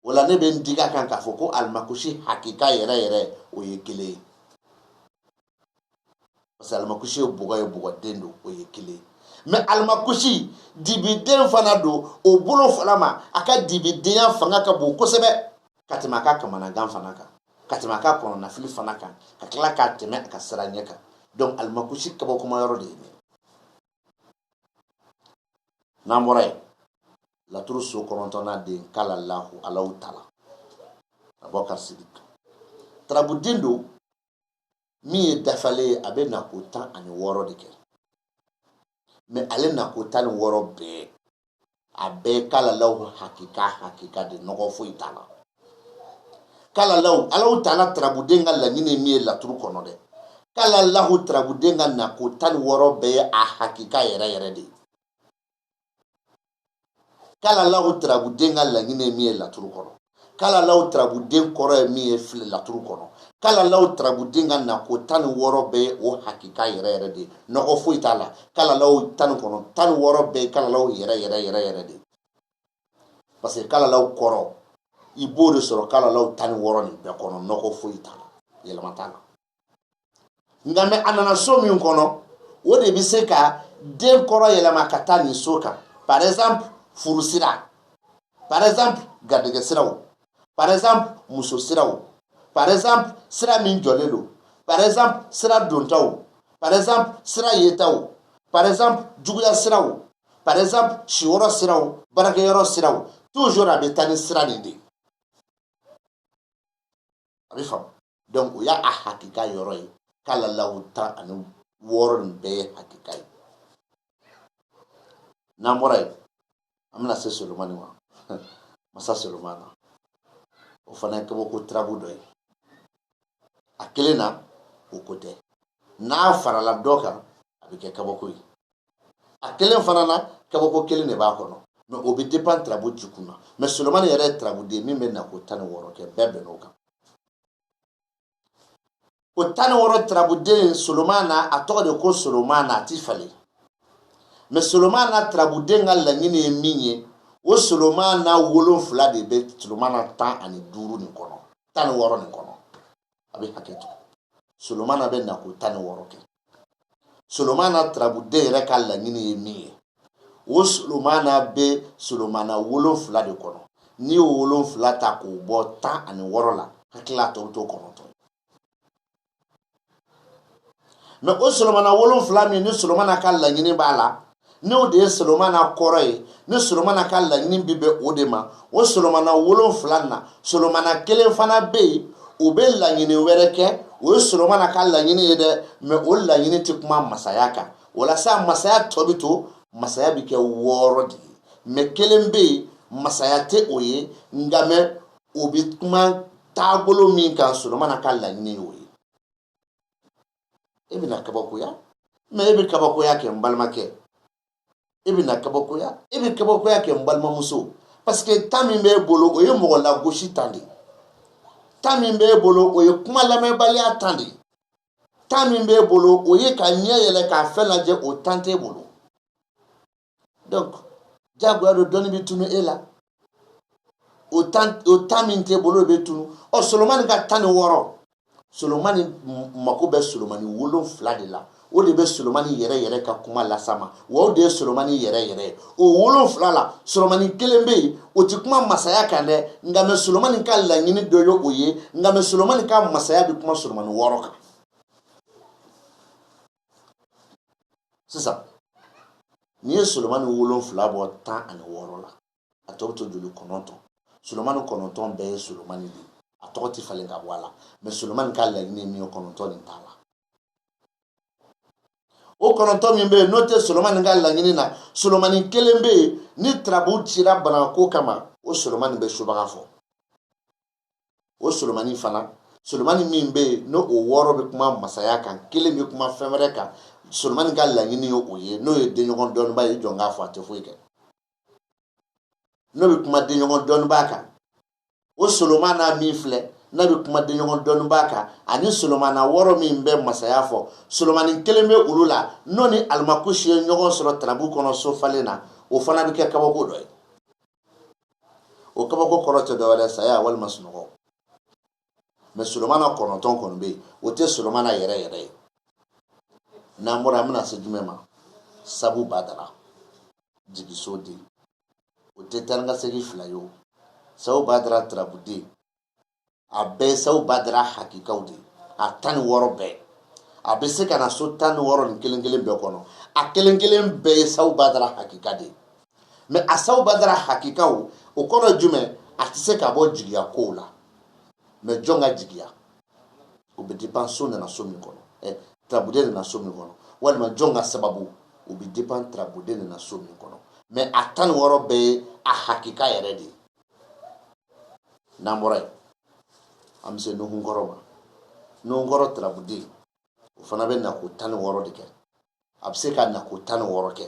o la ne bɛ n digi a kan k'a fɔ ko alimakusi hakika yɛrɛ yɛrɛ o ye kelen ye parce que alimakusi ye bɔgɔ ye bɔgɔden don o ye kelen mais alimakusi dibiden fana don o bolo fana ma a ka dibidenya fanga ka bon kosɛbɛ ka tɛmɛ a ka kamanagan fana kan ka tɛmɛ a ka kɔnɔnafili fana kan ka tila ka tɛmɛ a ka siranɲɛ kan donc alimakusi kabakoma yɔrɔ de ye nin n'an bɔra yen laturu so kɔnɔntɔnna den kalalahu alahu tala abubakari sidiki tarabuden don min ye dafalen ye a bɛ nako tan ani wɔɔrɔ de kɛ mais ale nako tan ni wɔɔrɔ bɛɛ a bɛɛ kalalaw hakika hakika de nɔgɔ foyi t'a la kalalaw alahu taala tarabuden ka laɲini min ye laturu kɔnɔ dɛ kalalahu tarabuden ka nako tan ni wɔɔrɔ bɛɛ ye a hakika yɛrɛ yɛrɛ de ye kalalaw tarabuden ka laɲini ye min ye laturu kɔnɔ kalalaw tarabuden kɔrɔ ye min ye fili laturu kɔnɔ kalalaw tarabuden ka nako tan ni wɔɔrɔ bɛɛ o hakika yɛrɛ yɛrɛ de nɔgɔ foyi t'a la kalalaw tan ni kɔnɔ tan ni wɔɔrɔ bɛɛ kalalaw yɛrɛ yɛrɛ yɛrɛ yɛrɛ de parce que kalalaw kɔrɔ i b'o de sɔrɔ kalalaw tan ni wɔɔrɔ nin bɛɛ kɔnɔ nɔgɔ foyi t'a la yɛlɛma t'a la nka mais a nana so min kɔnɔ o de bɛ se ka den kɔrɔ yɛlɛma ka taa nin so kan par exemple furu sira par exemple garijɛgɛ siraw par exemple muso siraw par exemple sira min jɔlen don par exemple sira dontaw par exemple sira yetaw par exemple juguya siraw par exemple siyɔrɔ siraw baarakɛyɔrɔ siraw toujours a bɛ taa ni sira nin de ye a bɛ faamu donc o y'a hakika yɔrɔ ye kalalawu tan ani wɔɔrɔ nin bɛɛ ye hakika ye n'an bɔra yen an bɛna se solomani ma masa solomana o fana ye kabako tirabu dɔ ye a kelen na o ko tɛ n'a farala dɔ kan a bɛ kɛ kabako ye a kelen fana na kabako kelen de b'a kɔnɔ mais o bɛ dépend tirabu jukun na mais solomani yɛrɛ ye tirabuden min bɛ na ko tan ni wɔɔrɔ kɛ bɛɛ bɛnn'o kan o tan ni wɔɔrɔ tirabuden solomana a tɔgɔ de ko solomana a ti falen mais solomana tirabuden ka laɲini ye min ye o solomana wolonfila de bɛ solomana tan ani duuru nin kɔnɔ tan ni wɔɔrɔ nin kɔnɔ a bɛ hakɛ to solomana bɛ na ko tan ni wɔɔrɔ kɛ solomana turabuden yɛrɛ ka laɲini ye min ye o solomana bɛ solomana wolonfila de kɔnɔ n'i y'o wolonfila ta k'o bɔ tan ani wɔɔrɔ la hakili la tɔ bɛ to kɔnɔntɔn mais o solomana wolonfila min ni solomana ka laɲini b'a la n'o de ye solomana kɔrɔ ye ni solomana ka laɲini bi bɛn o de ma o solomana wolonfila na solomana kelen fana bɛ yen o bɛ laɲini wɛrɛ kɛ o ye solomana ka laɲini ye dɛ mais o laɲini tɛ kuma masaya kan walasa masaya tɔ bɛ to masaya bɛ kɛ wɔɔrɔ de ye mais kelen bɛ yen masaya tɛ o ye nka mais o bɛ kuma taabolo min kan solomana ka laɲini ye o ye e bɛna kabakoya mais e bɛ kabakoya kɛ n balimakɛ e bɛna kabakoya e bɛ kabakoya kɛ n balimamuso parce que temps min b'e bolo o ye mɔgɔ lagosi temps de temps min b'e bolo o ye kuma lamɛnbaliya temps de temps min b'e bolo o ye ka ɲɛ yɛlɛ ka fɛn lajɛ o temps t'e bolo donc diyagoya don dɔnni bɛ tunu e la o temps min t'e bolo o bɛ tunu ɔ solomani ka tan ni wɔɔrɔ solomani mako bɛ solomani wolonfila de la o de bɛ solomani yɛrɛ yɛrɛ ka kuma lasama wa o de ye solomani yɛrɛ yɛrɛ ye o wolonfila la solomani kelen bɛ yen o ti kuma masaya kan dɛ nka mais solomani ka laɲini dɔ ye o ye nka mais solomani ka masaya bɛ kuma solomani wɔɔrɔ kan sisan n'i ye solomani wolonfila bɔ tan ani wɔɔrɔ la a tɔ bɛ to joli kɔnɔntɔn solomani kɔnɔntɔn bɛɛ ye solomani de a tɔgɔ tɛ falen ka bɔ a la mɛ solomani ka laɲini ye min ye kɔnɔntɔn nin t'a la o kɔnɔntɔn min bɛ yen n'o tɛ solomani ka laɲini na solomani kelen bɛ yen ni tarabu cira banako kama o solomani bɛ subaga fɔ o solomani fana solomani min bɛ yen n'o wɔɔrɔ bɛ kuma masaya kan kelen bɛ kuma fɛn wɛrɛ kan solomani ka laɲini ye o ye n'o ye denɲɔgɔn dɔnniba ye jɔn k'a fɔ a tɛ foyi kɛ n'o bɛ kuma denɲɔgɔn dɔnniba kan o solomana min filɛ n'a bɛ kuma denɲɔgɔn dɔnniba kan ani solomana wɔɔrɔ min bɛ masaya fɔ solomani kelen bɛ olu la n'o ni alimakusi ye ɲɔgɔn sɔrɔ tarabu kɔnɔ so falen na o fana bɛ kɛ kabako dɔ ye o kabako kɔrɔ tɛ dɔwɛrɛ saya walima sunɔgɔ mɛ solomana kɔnɔntɔn kɔni bɛ yen o tɛ solomana yɛrɛ yɛrɛ ye n'an bɔra an bɛna se jumɛn ma sabu badara jigiso den o tɛ taa ni ka segin fila ye o sabu badara tarabuden a bɛɛ sabu badara hakikaw de a tan ni wɔɔrɔ bɛɛ a bɛ se ka na so tan ni wɔɔrɔ nin kelen kelen bɛɛ kɔnɔ a kelen kelen bɛɛ ye sabu badara hakika de mɛ a sabu badara hakikaw o kɔrɔ jumɛn a tɛ se ka bɔ jigiya kow la mɛ jɔn ka jigiya o bɛ depend so nana so min kɔnɔ ɛ eh, tarabuden nana so min kɔnɔ walima jɔn ka sababu o bɛ depend tarabuden nana so min kɔnɔ mɛ a tan ni wɔɔrɔ bɛɛ ye a hakika yɛrɛ de ye n'an bɔra yen an bɛ se nuhunkɔrɔ ma nuhunkɔrɔ tarabuden o fana bɛ na ko tan ni wɔɔrɔ de kɛ a bɛ se ka na ko tan ni wɔɔrɔ kɛ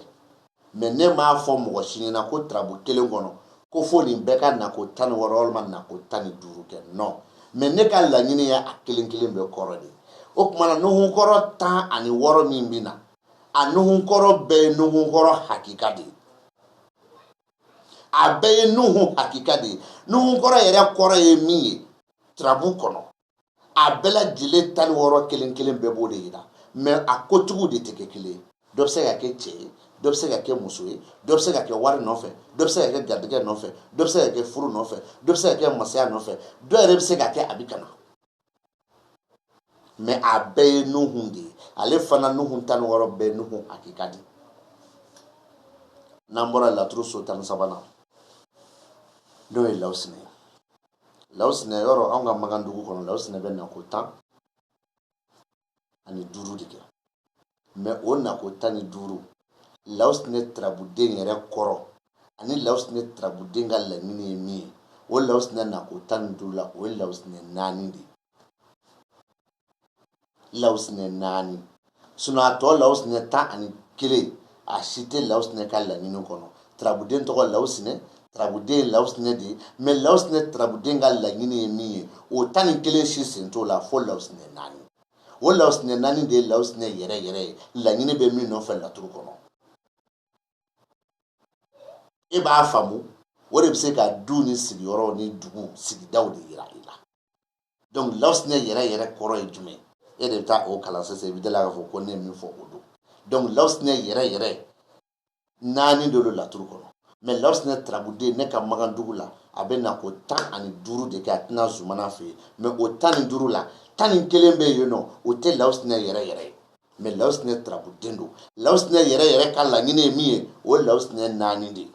mɛ ne m'a fɔ mɔgɔ si ɲɛna ko tarabu kelen kɔnɔ ko fo nin bɛɛ ka na ko tan ni wɔɔrɔ walima na ko tan ni duuru kɛ nɔ mɛ ne ka laɲini ye a kelen kelen bɛɛ kɔrɔ de o tuma na nuhunkɔrɔ tan ani wɔɔrɔ min bɛ na a nuhunkɔrɔ bɛɛ ye nuhunkɔrɔ hakika de ye a bɛɛ ye nuhu hakika de ye nuhunkɔrɔ yɛrɛ kɔrɔ ye min ye turabu kɔnɔ a bɛɛ lajɛlen tan ni wɔɔrɔ kelen kelen bɛɛ b'o de yira mɛ a kotigiw de tɛ kɛ kelen ye dɔ bɛ se ka kɛ cɛ ye dɔ bɛ se ka kɛ muso ye dɔ bɛ se ka kɛ wari nɔfɛ dɔ bɛ se ka kɛ garijɛgɛ nɔfɛ dɔ bɛ se ka kɛ furu nɔfɛ dɔ bɛ se ka kɛ masaya nɔfɛ dɔ yɛrɛ bɛ se ka kɛ a bɛ ka na mɛ a bɛɛ ye nuhun de ye ale fana nuhun tan ni wɔɔrɔ bɛɛ nuhun hakika de n'an bɔra laturu so tan ni sabanan n'o ye lawusinɛ ye lawusinɛ yɔrɔ anw ka makan dugu kɔnɔ lawusinɛ bɛ na ko tan ani duuru de kɛ mɛ o na ko tan ni duuru lawusinɛ tarabuden yɛrɛ kɔrɔ ani lawusinɛ tarabuden ka laɲini ye min ye o lawusinɛ na ko tan ni duuru la o ye lawusinɛ naani de ye lawusinɛ naani sinɔn a tɔ lawusinɛ tan ani kelen a si tɛ lawusinɛ ka laɲini kɔnɔ tarabuden tɔgɔ lawusinɛ tarabuden ye lawusinɛ de ye mɛ lawusinɛ tarabuden ka laɲini ye min ye o tan ni kelen si sen t'o la fo lawusinɛ naani o lawusinɛ naani de ye lawusinɛ yɛrɛ yɛrɛ ye laɲini bɛ min nɔfɛ laturu kɔnɔ e b'a faamu o de bɛ se ka du ni sigiyɔrɔ ni dugu sigidaw de yira i la donc lawusinɛ yɛrɛ yɛrɛ kɔrɔ ye jumɛn e de bɛ taa o kalan sisan i bɛ da a la k'a fɔ ko ne ye min fɔ o don donc lawusinɛ yɛrɛ yɛrɛ naani de lo laturu kɔnɔ mɛ lawusinɛ tarabuden ne ka magandugu la a bɛ na ko tan ani duuru de kɛ a tɛ na zumana fɛ yen mɛ o tan ni duuru la tan ni kelen bɛ yen nɔ o tɛ lawusinɛ yɛrɛ yɛrɛ ye mɛ lawusinɛ tarabuden don lawusinɛ yɛrɛ yɛrɛ ka laɲini ye min ye o ye lawusinɛ naani de ye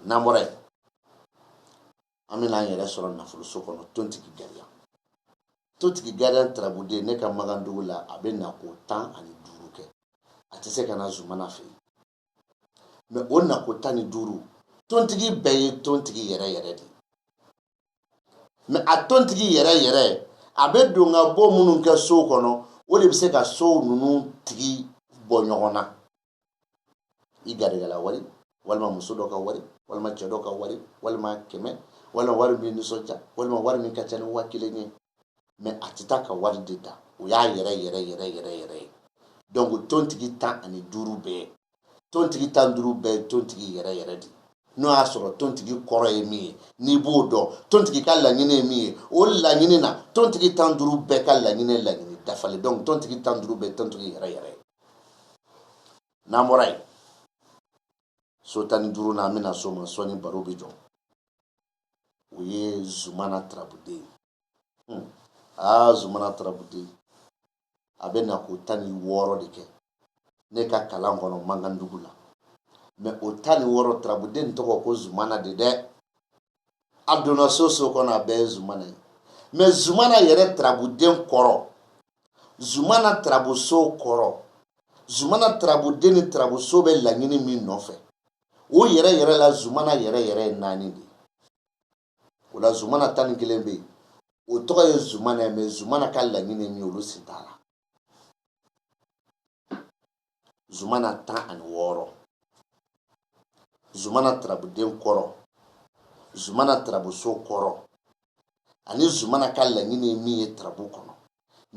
n'an bɔra yen an bɛna an yɛrɛ sɔrɔ nafoloso kɔnɔ tontigi gariya tontigi gariya tarabuden ne ka magandugu la a bɛ na ko tan ani duuru kɛ a tɛ se ka na zumana fɛ yen mɛ o na ko tan ni duuru tontigi bɛɛ ye tontigi yɛrɛ yɛrɛ de mɛ a tontigi yɛrɛ yɛrɛ a bɛ don ka bɔ minnu kɛ sow kɔnɔ o de bɛ se ka sow ninnu tigi bɔ ɲɔgɔn na i garijɛgɛla wari walima muso dɔ ka wari walima cɛ dɔ ka wari walima kɛmɛ walima wari min nisɔndiya walima wari min ka ca ni waa kelen ye mɛ a tɛ taa ka wari de ta o y'a yɛrɛ yɛrɛ ye donc tontigi tan ani duuru bɛɛ tontigi tan duuru bɛɛ tontigi yɛrɛ yɛrɛ de n'o y'a sɔrɔ tontigi kɔrɔ ye min ye n'i b'o dɔn tontigi ka laɲini ye min ye o laɲini na tontigi tan duuru bɛɛ ka laɲini laɲini dafalen don tontigi tan duuru bɛɛ tontigi yɛrɛ yɛrɛ ye n'an bɔra yen so tan ni duuru na an bɛ na so ma sɔɔni baro bɛ jɔ o ye zumana tarabuden ye hmm. aa zumana tarabuden a bɛ na ko tan ni wɔɔrɔ de kɛ ne ka kalan kɔnɔ magandugu la mɛ o tan ni wɔɔrɔ tarabuden tɔgɔ ko zumana de dɛ a donna so o so kɔnɔ a bɛɛ ye zumana ye mɛ zumana yɛrɛ tarabuden kɔrɔ zumana tarabuso kɔrɔ zumana tarabuden ni tarabuso bɛ laɲini min nɔfɛ o yɛrɛ yɛrɛ la zumana yɛrɛ yɛrɛ ye naani de ye o la zumana tan ni kelen bɛ yen o tɔgɔ ye zumana ye mɛ zumana ka laɲini min olu si t'a la zumana tan ani wɔɔrɔ zumana tarabuden kɔrɔ zumana tarabuso kɔrɔ ani zumana ka laɲini ye min ye tarabu kɔnɔ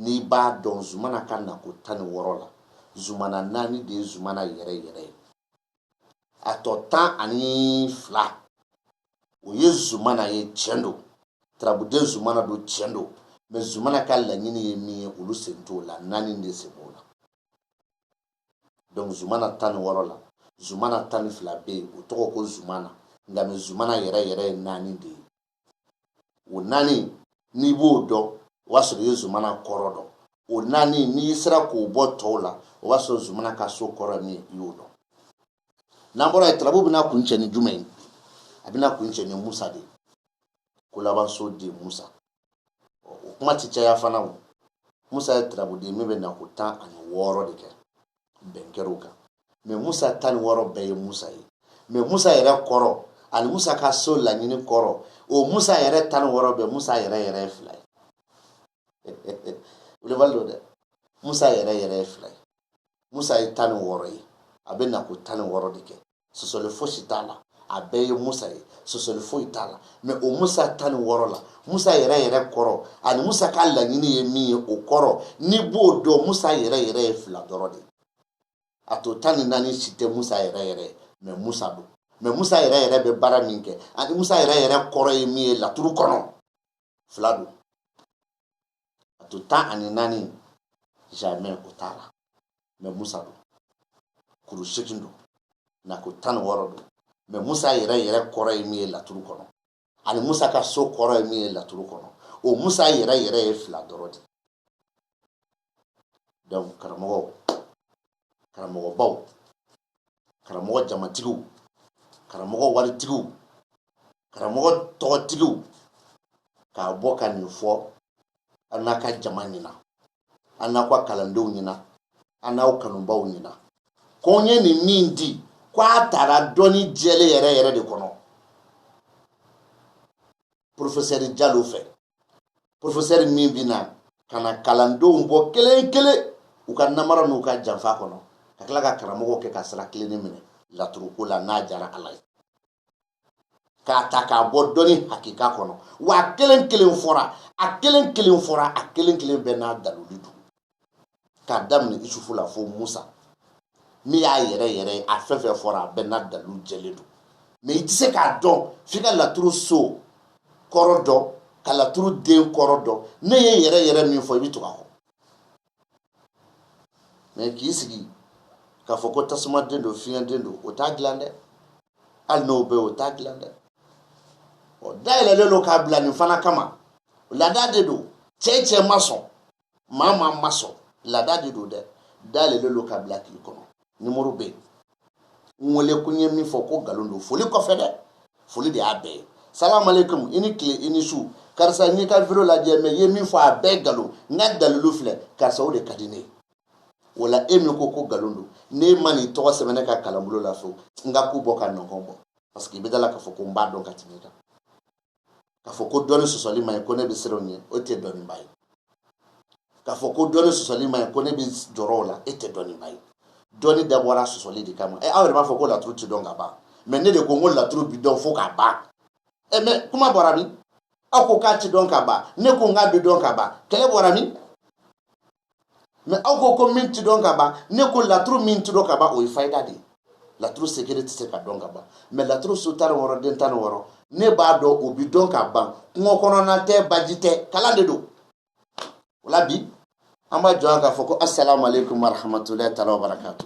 n'i b'a dɔn zumana ka nako tan ni wɔɔrɔ la zumana naani de ye zumana yɛrɛ yɛrɛ ye a tɔ tan ani fila o ye zumana ye tiɲɛ don tarabuden zumana don tiɲɛ don mɛ zumana ka laɲini ye min ye olu sen t'o la naani de sen b'o la donc zumana tan ni wɔɔrɔ la zumana tan ni fila bɛ yen o tɔgɔ ko zumana nka mɛ zumana yɛrɛ yɛrɛ ye naani de ye o naani n'i b'o dɔn o b'a sɔrɔ i ye zumana kɔrɔ dɔn o naani n'i sera k'o bɔ tɔw la o b'a sɔrɔ zumana ka so kɔrɔ min i y'o dɔn n'an bɔra yen tarabu bɛna kuncɛ ni jumɛn ye a bɛna kuncɛ ni musa de ye ko labanso den musa o kuma tɛ caya fana o musa ye tarabuden min bɛ na ko tan ani wɔɔrɔ de kɛ bɛn kɛra o kan mɛ musa tan ni wɔɔrɔ bɛɛ ye musa ye mɛ musa yɛrɛ kɔrɔ ani musa ka so laɲini kɔrɔ o musa yɛrɛ tan ni wɔɔrɔ bɛɛ musa yɛrɛ yɛrɛ ye fila ye wulibali don dɛ musa yɛrɛ yɛrɛ ye fila ye musa ye tan ni wɔɔrɔ ye a bɛ na ko tan ni wɔɔrɔ de kɛ sɔsɔli fosi t'a la a bɛɛ ye musa ye sɔsɔli foyi t'a la mɛ o musa tan ni wɔɔrɔ la musa yɛrɛ yɛrɛ kɔrɔ ani musa ka laɲini ye min ye o kɔrɔ n'i b'o dɔn musa yɛrɛ yɛrɛ ye fila dɔrɔn de a tɔ tan ni naani si tɛ musa yɛrɛ yɛrɛ ye mɛ musa don mɛ musa yɛrɛ yɛrɛ bɛ baara min kɛ ani musa yɛrɛ yɛrɛ kɔrɔ ye min ye laturu kɔnɔ fila don a tɔ tan ani naani jamɛ o t'a la mɛ musa don kuru seegin don nako tan ni wɔɔrɔ don mɛ musa yɛrɛ yɛrɛ kɔrɔ ye min ye laturu kɔnɔ ani musa ka so kɔrɔ ye min ye laturu kɔnɔ o musa yɛrɛ yɛrɛ ye fila dɔrɔn de donc karamɔgɔ karamɔgɔbaw karamɔgɔ jamatigiw karamɔgɔ waritigiw karamɔgɔ tɔgɔtigiw k'a bɔ ka nin fɔ a n'a ka jama ɲɛna a n'a ka kalandenw ɲɛna a n'aw kanubaw ɲɛna ko n ye nin min di ko a tara dɔnni jɛlen yɛrɛ yɛrɛ de kɔnɔ porofesɛri jalo fɛ porofesɛri min bɛna ka na kalandenw bɔ kelen kelen u ka namara n'u ka janfa kɔnɔ ka tila ka karamɔgɔw kɛ ka sira tilennen minɛ laturuko la n'a jara ala ye k'a ta k'a bɔ dɔnni hakika kɔnɔ wa a kelen kelen fɔra a kelen kelen fɔra a kelen kelen bɛɛ n'a daluli don k'a daminɛ isufu la fo musa min y'a yɛrɛ yɛrɛ a fɛn fɛn fɔra a bɛɛ n'a dalilu jɛlen don mais i tɛ se k'a dɔn f'i ka laturu so kɔrɔ dɔn ka laturu den kɔrɔ dɔn ne ye yɛrɛ yɛrɛ min fɔ i bɛ tugu a kɔ mais k'i sigi k'a fɔ ko tasuma den don fiɲɛ den don o t'a dilan dɛ hali n'o bɛ o t'a dilan dɛ dayɛlɛlen don k'a bila nin fana kama laada de don cɛ cɛ ma sɔn maa maa ma sɔn laada de don dɛ dayɛlɛlen don k'a bila k'i kɔnɔ numéro bɛ yen n wele ko n ye min fɔ ko nkalon don foli kɔfɛ dɛ foli de y'a bɛɛ ye salamaleykum i ni tile i ni su karisa n y'i ka video lajɛ mais i ye min fɔ a bɛɛ nkalon n ka dalilu filɛ karisa o de ka di ne ye o la e min ko ko nkalon don n'e ma n'i tɔgɔ sɛbɛn ne ka kalanbolo la fewu n ka ku bɔ ka nɔgɔn bɔ parce que i bɛ da a la k'a fɔ ko n b'a dɔn ka tɛmɛ i kan k'a fɔ ko dɔnni sɔsɔli ma ɲi ko ne bɛ siran o ɲɛ e tɛ dɔnniba ye k'a fɔ ko dɔnni sɔsɔli ma ɲi ko ne bɛ jɔrɔ o la e tɛ dɔnniba ye dɔnni dabɔra sɔsɔli de kama ɛ aw yɛrɛ b'a fɔ ko laturu tɛ dɔn ka ban mais ne de ko n ko laturu bɛ dɔn fo k'a ban ɛ mais kuma bɔra min aw ko k'a tɛ dɔn ka ban ne ko n k'a bɛ dɔn ka ban kɛlɛ bɔra min mais aw ko ko min ti dɔn ka ban ne ko laturu min ti dɔn ka ban o ye fayida de ye laturu secret tɛ se ka dɔn ka ban mais laturu so tan ni wɔɔrɔ den tan ni wɔɔrɔ ne b'a dɔn o bi dɔn ka ban kungo kɔnɔna tɛ baji tɛ kalan de don o la bi an b'a jɔ yan k'a fɔ ko asalamu aleykum warahamatulayi taala wabarakatu